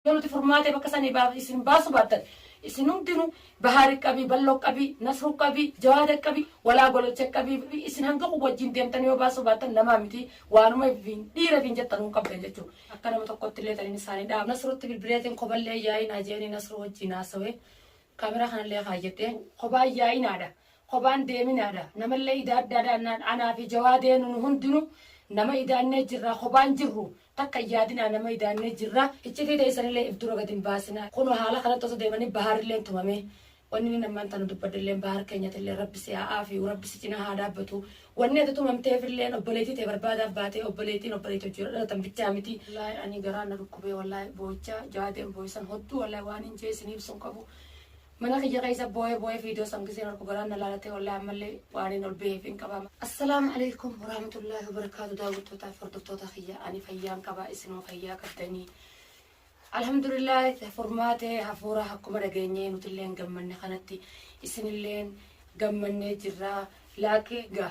Yoo nuti furmaatee bakka sanii baaf isin baasu baattan isin hundinu Bahaari qabii, Ballo qabii, Nasru qabii, Jawaada qabii, Walaa Golocha qabii isin hanga kun wajjin deemtanii yoo baasuu baattan namaa mitii waanuma ifiin dhiira ifiin jettanuu hin qabdan jechuu. Akka nama tokkotti illee taniin isaanii dhaama. Nasrutti bilbileetiin koballee hin yaa'inaa jeeni Nasru wajjiin haasawee kaameraa kanallee kaayyadhe. Kobaa hin yaa'inaadha. Kobaa hin deeminaadha. Namallee idaaddaadha anaa fi Jawaadee nunu hundinu nama idaannee jirra kobaa hin jirru. Takka hin yaadinaa nama idaannee jirra. Iccitii teessanillee if dura gad hin baasinaa. Kunoo haala kanatti osoo deemanii Baharilleen tumamee. Wanni nin ammaan tana dubbadhulleen Bahar keenyatillee Rabbi si haa aafiyu, Rabbi si cinaa haa dhaabbatu. Wanni ati tumamteefilleen obboleettii tee barbaadaaf baatee obboleettiin obboleetti wajji yoo dhalatan bichaa miti. Wallaahi anii garaan na dhukkubee wallaahi booyichaa jaadeen booyisan hodduu wallaahi waan hin jee isiniibsu hin qabu. Mana kiyya keessa booye booye video san giseen arku garaan na laalatee wallahi ammallee waanin ol beeheef hin qaba. Assalaamu aleykum waraamatullaahi wabarakaatu daawwattootaaf hordoftoota kiyya ani fayyaan qaba isinoo fayyaa qabdanii. Alhamdulillah furmaatee hafuura akkuma dhageenyee nutilleen gammanne kanatti isinilleen gammannee jirra laakii ga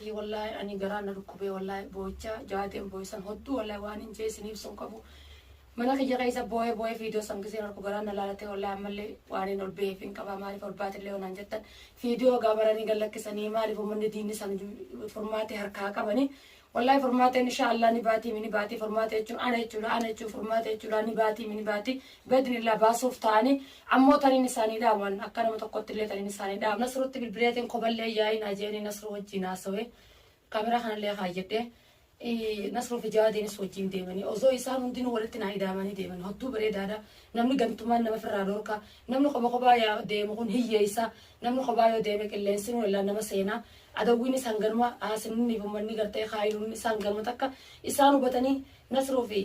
Hii wallahi anii garaan na dhukkubee wallahi boo'ichaa jaateen boo'e san hodduu wallahi waanin jee isin ibsu hin qabu mana kiyya keessa boo'ee boo'ee viidiyoo san giseen arku garaan na laalatee wallahi ammallee waanin ol ba'eef hin qaba maaliif ol baatillee wanaan jettan viidiyoo gaa baranii gad lakkisanii maaliif ummanni diinni san furmaatee harkaa qabanii wallahi furmaateen inshaa Allah ni baatii mini baatii furmaatee jechuun ana jechuudha ana jechuun furmaatee jechuudha ni baatii mini baatii gad miillaa baasuuf taa'anii ammoo taniin isaanii dhaaman akka nama tokkottillee taniin isaanii dhaam nasrutti bilbileetiin koballee yaa'iin ajeeni nasruu wajjiin haasawee kaameraa kanallee kaayyadhee nasruu fi jawaadiinis wajjiin deemanii osoo isaan hundinuu walitti naa idaamanii deeman hodduu bareedaadha namni gantumaan nama firraa dhorka namni qoba qobaa yaa deemu kun hiyyeessa namni qobaa yoo deeme qilleensinuu illaa nama seenaa adawwiin isaan ganuma haasinniif ummanni gartee kaayiluun isaan ganuma takka isaan hubatanii Nasruu fi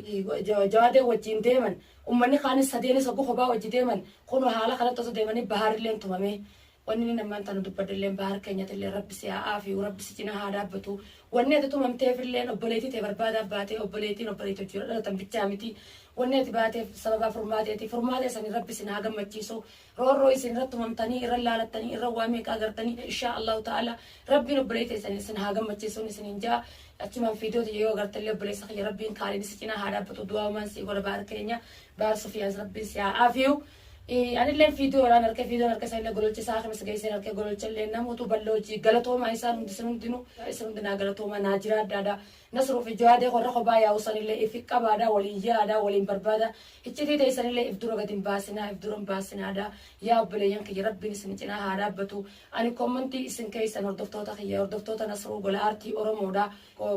Jawaadeen wajjiin deeman, ummanni kaanis sadeenis hoggu kophaa wajji deeman, kunoo haala kanatti osoo deemanii Bahaarilleen tumamee. Wanni nin ammaan tana dubbadhelleen Bahaar keenyatilleen Rabbi si haa aafiyu, Rabbi si cinaa haa dhaabbatu. Wanni ati tumamteefilleen obboleeytii tee barbaadaaf baatee, obboleeytiin obboleeytii wajji dhalatan bichaa miti. Wanni ati baateef sababaa furmaateeti. Furmaatee saniin Rabbi isin haa gammachiisu. Roorroo isin irra tumamtanii, irra laalattanii, irra waa meeqa agartanii, inshaa Allaahu ta'aalaa Rabbiin obboleeyyi teessan isin haa gammachiisuun isiniin ja'a. Achumaan viidiyoo tiyya yoo agarte illee obboleessa kiyya Rabbiin kaaliin si cinaa haa dhaabbatu du'aa'umaan sii godha baar keenya baar Sufiyaans Rabbiin si haa aafiyu. Anilleen viidiyoo irraan arke viidiyoon arke sanillee gololche isaa akhimas geesseen arke gololchallee namuutu bal'oo hojii galatoomaa isaan hundi isin hundinuu isin hundi naa galatoomaa naa jiraadhaadha. Nasruu fi Jawaadee koo irra kophaa yaa'uu sanillee if hin qabaadaa, wal hin yaadaa, wal hin barbaadaa, iccitii teessanillee if dura gad hin baasinaa, if dura hin baasinaadaa, yaa obboleeyyan kiyya Rabbiin isin cinaa haa dhaabbatu. Ani commentii isin keessan hordoftoota kiyya, hordoftoota Nasruu gola aartii Oromoodha.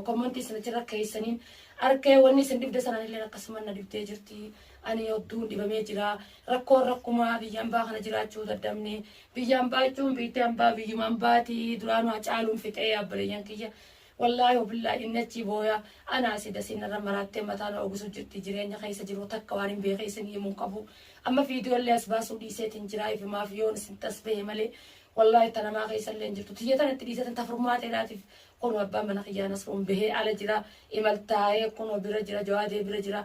Commentii isin achirra keessaniin arkee wanni isin dhibde san anilleen akkasuma na dhibdee jirti. Ani hodduun dhibamee jira. Rakkoon rakkumaa biyya ambaa kana jiraachuu daddabne. Biyya ambaa jechuun biitti ambaa biyyuma ambaati. Duraanuu Hacaaluun fixee obboleeyyan kiyya. Wallahi wabillahi inni achii booya ana asii dasii narra maraattee mataa na ogusu jirti jireenya keessa jiru takka waan hin beekee isin himuun qabu amma viidiyoo illee as baasuu dhiiseetiin jiraa ifimaaf yoon isin tas bahe malee wallahi ta namaa keessa illee hin jirtu tiyya tana itti dhiiseetiin ta furmaateedhaatiif kunoo abbaan mana kiyyaa nasruun bahee ala jira imal taa'ee kunoo bira jira jawaadee bira jira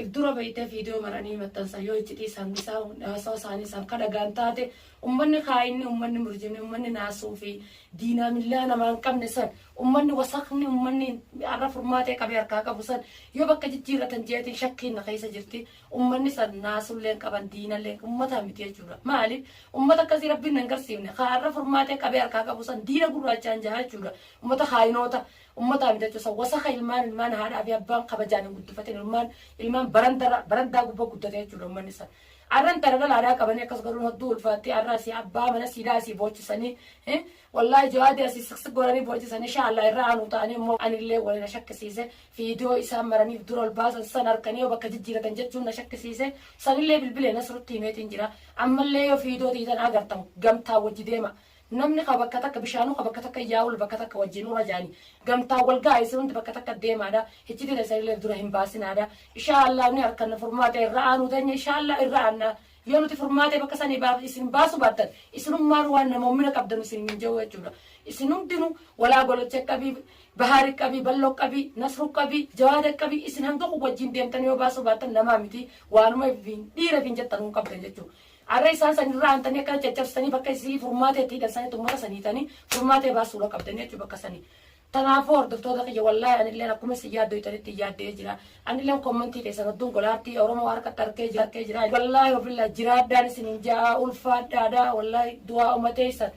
if dura baytee video maranii maxxansa yoo iccitii isaan dhisaa haasawa isaanii isaan ka dhagaan taate ummanni kaayinni ummanni murjimni ummanni naasuu fi diinaa millaa namaa hin qabne san ummanni wasakni ummanni arra furmaatee qabee harkaa qabu san yoo bakka jijjiirratan jeetiin shakkiin na keessa jirti ummanni san naasulleen qaban diinallee ummataa miti jechuudha maali ummata akkasii rabbiin nan garsiifne kaa arra furmaatee qabee harkaa qabu san diina gurraachaan jahaa jechuudha ummata kaayinoota Ummataa bitachuu san wasaka ilmaan ilmaan haadhaa fi abbaan kabajaan hin guddifatin ilmaan ilmaan barandara barandaa gubbaa guddata jechuudha ummanni san. Arran tana lala aadaa qabanii akkas godhuun hedduu ulfaattee arra asii abbaa mana siidaa asii boochisanii eh, wallaahi jawaadii asii siksik godhanii boochisanii shaallaa irra aanuu ta'anii immoo anillee waliin na shakkisiise fiidiyoo isaan maraniif dura ol baasan san harkanii yoo bakka jijjiiratan jechuun na shakkisiise sanillee bilbilee nasrutti himeetiin jira ammallee yoo fiidiyoo tiitan agartan gamtaa wajji deema Namni ka bakka takka bishaanuu ka bakka takka yaa'ul bakka takka wajjiin ura jaani gamtaan wal ga'a isin hundi bakka takka deemaadha hiccitii teessanilee dura hin baasinaadha ishaa Allah ni arkanna furmaata irra aanuu teenya ishaa Allah irra aanna yoo nuti furmaatee bakka sanii baaf isin baasu baattan isinummaanu waan namoommina qabdanu isin hin jawuu jechuudha isin hundinu walaa golocha qabii bahaari qabii ballo qabii nasru qabii jawaada qabii isin hanga kun wajjiin deemtan yoo baasu baattan namaa miti waanuma dhiira fin jettan kun qabdan jechuudha Arra isaan san irra aantanii akkana caccabsitanii bakka isii furmaata itti hidhan sanitti ummata san hiitanii furmaata ibaa suura qabdan jechuu bakka sanii. Tanaafuu hordoftoota kiyya wallaahi anilleen akkuma isin yaaddoytanitti yaaddee jira. Anilleen kommentii keessan hedduun golaartii Oromoo harkatti harkee jira harkee jira. Wallaahi ofilla jiraadhaan isiniin ja'a ulfaadhaadha wallaahi du'aa umateessan.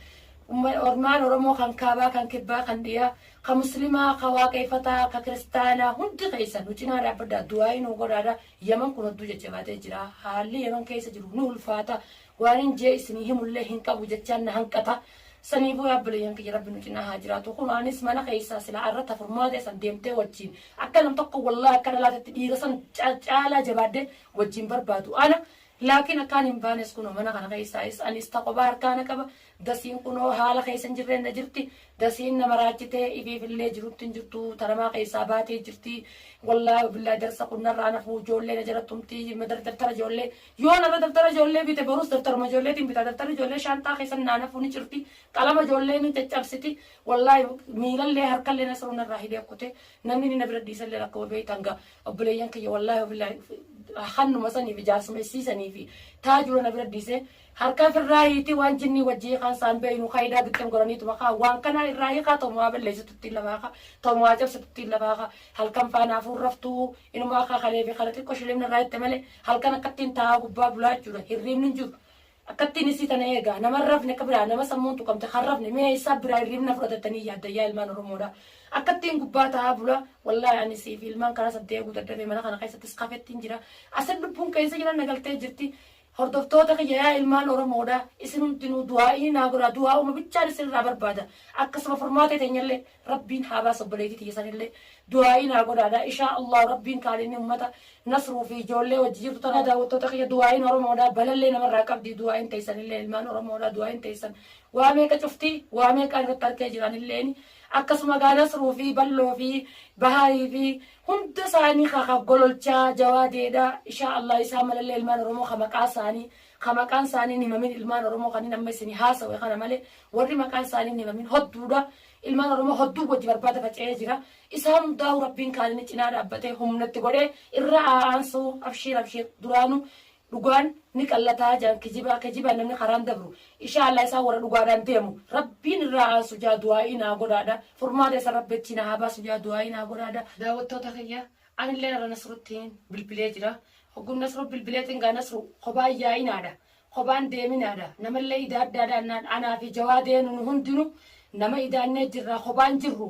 Ormaan Oromoo kan kaabaa kan kibbaa kan dhiyaa kan muslimaa kan waaqeeffataa kan kiristaanaa hundi keessan nu cinaa dhaabbadhaa du'aa inuu godhaadha Yaman kun odduu jajjabaatee jira. Haalli Yaman keessa jiru ni ulfaata. Waanin jee isinii himullee hin qabu jechaan na hanqata. Saniifuu yaa obboleeyyan kiyya Rabbi nu cinaa haa jiraatu. Kunoo anis mana keessaa silaa arra ta furmaatee san deemtee wajjiin akka nam tokko wallahi akka dhalaa tetti dhiira san caalaa jabaadhee wajjiin barbaadu ana. Laakiin akkaan hin baanes kunoo mana kana keessaayis anis ta kophaa harkaa na qaba. Dasiin kunoo haala keessa hin jirreen na jirti. Dasiin na maraachitee ifiifillee jirutti hin jirtu. Tanamaa keessaa baatee jirti. Wallaahi wabillaahi darsa kun narraa nafuu ijoollee na jala tumti. Madar dabtara ijoollee. Yoo narra dabtara ijoollee bite borus dabtaruma ijoolleetiin bita. Dabtarri ijoollee shaanxaa keessan naa nafuu ni cirti. Qalama ijoollee ni caccabsiti. Wallaahi miilallee harkallee nasruu narraa hidhee kute. Namni inni na bira dhiisallee rakkoo beektan ga. Obboleeyyan kiyya wallaahi wabillaahi hannuma saniifi jaarsumessii saniifi taajura na bira dhiisee Harkaa firraa hiitii waan jinnii wajji hiikaan saan beeynu kaidaa bitten goraniituma kaa waan kanaa irraa hiikaa tomuhaa balleessitu ittiin lafaa kaa tomuhaa cabsitu ittiin lafaa kaa halkan faana hafuun raftuu inumaa akka kalee fi kale xiqqo shilimni irraa hitte malee halkan akkattiin taa'aa gubbaa bulaa jechuudha hirriibni hin jiru akkattiin isii tana eegaa nama hin rafne akka biraa nama sammuun tuqamte kan rafne mee eessaa biraa hirriibna fudhatattanii yaadda yaa ilmaan oromoodha akkattiin gubbaa taa'aa bula wallaahi ani sii fi ilmaan karaa saddeeguu dadhabee mana kana keessattis kafettiin jira asin lubbuun keessa jira nagaltee jirti Hordoftoota kiyya yaa ilmaan oromoodha isin hundinuu du'aa'ii naa godhaa du'aa'uma bichaan isin irraa barbaada akkasuma furmaata teenyallee rabbiin haa baasa obboleetii tiyya sanillee du'aa'ii naa godhaadha ishaa Allaahu rabbiin kaalinni ummata nasruu fi ijoollee wajji jirtu tanaa daawwattoota kiyya du'aa'iin oromoodha balallee namarraa qabdi du'aa'iin teessanillee ilmaan oromoodha du'aa'iin teessan waa meeqa cuftii waa meeqaan irratti harkee jira anilleeni akkasuma gaa nasruu fi balloo fi bahaarii fi Hunda saanii ka ka gololchaa jawaa deedha ishaa Allah isaa malallee ilmaan oromoo ka maqaa saanii ka maqaan saanii hin himamin ilmaan oromoo kanin amma isini haasawe kana male warri maqaan saanii hin himamin hodduudha ilmaan oromoo hodduu wajji barbaada faca'ee jira isaan hundaa'u rabbiin kaanini cinaa dhaabbatee humnatti godhee irra aa'aansuu abshiir abshiir duraanu Dhugaan ni qallataa jaan kijibaa kijibaan namni karaan dabru ishaa Allah isaan warra dhugaadhaan deemu rabbiin irraa aansu jaa du'aa'ii naa godhaadha furmaata isan rabbi achii naa haa baasu jaa du'aa'ii naa godhaadha daawwattoota kiyya anilleen irra nasruttiin bilbilee jira hogguun nasru bilbileetiin gaa nasru kobaan yaa'inaadha kobaan deeminaadha namallee idaaddaadha annaan anaa fi jawaadeenu nu hundinu nama idaannee jirra kobaan jirru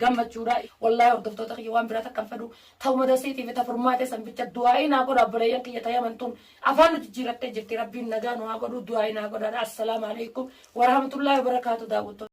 gammachuudha wallahi hordoftoota kiyya waan biraa takkan fedhu ta'uma dasiitii fi tafurmaatee san bicha du'aa'ii naa godha obboleeyyan kiyya tayaman tun afaan nu jijjiirattee jirti rabbiin nagaa nu haa godhu du'aa'ii naa godhaadha assalaamu alaikum warahmatullaahi wabarakaatu daawwattoota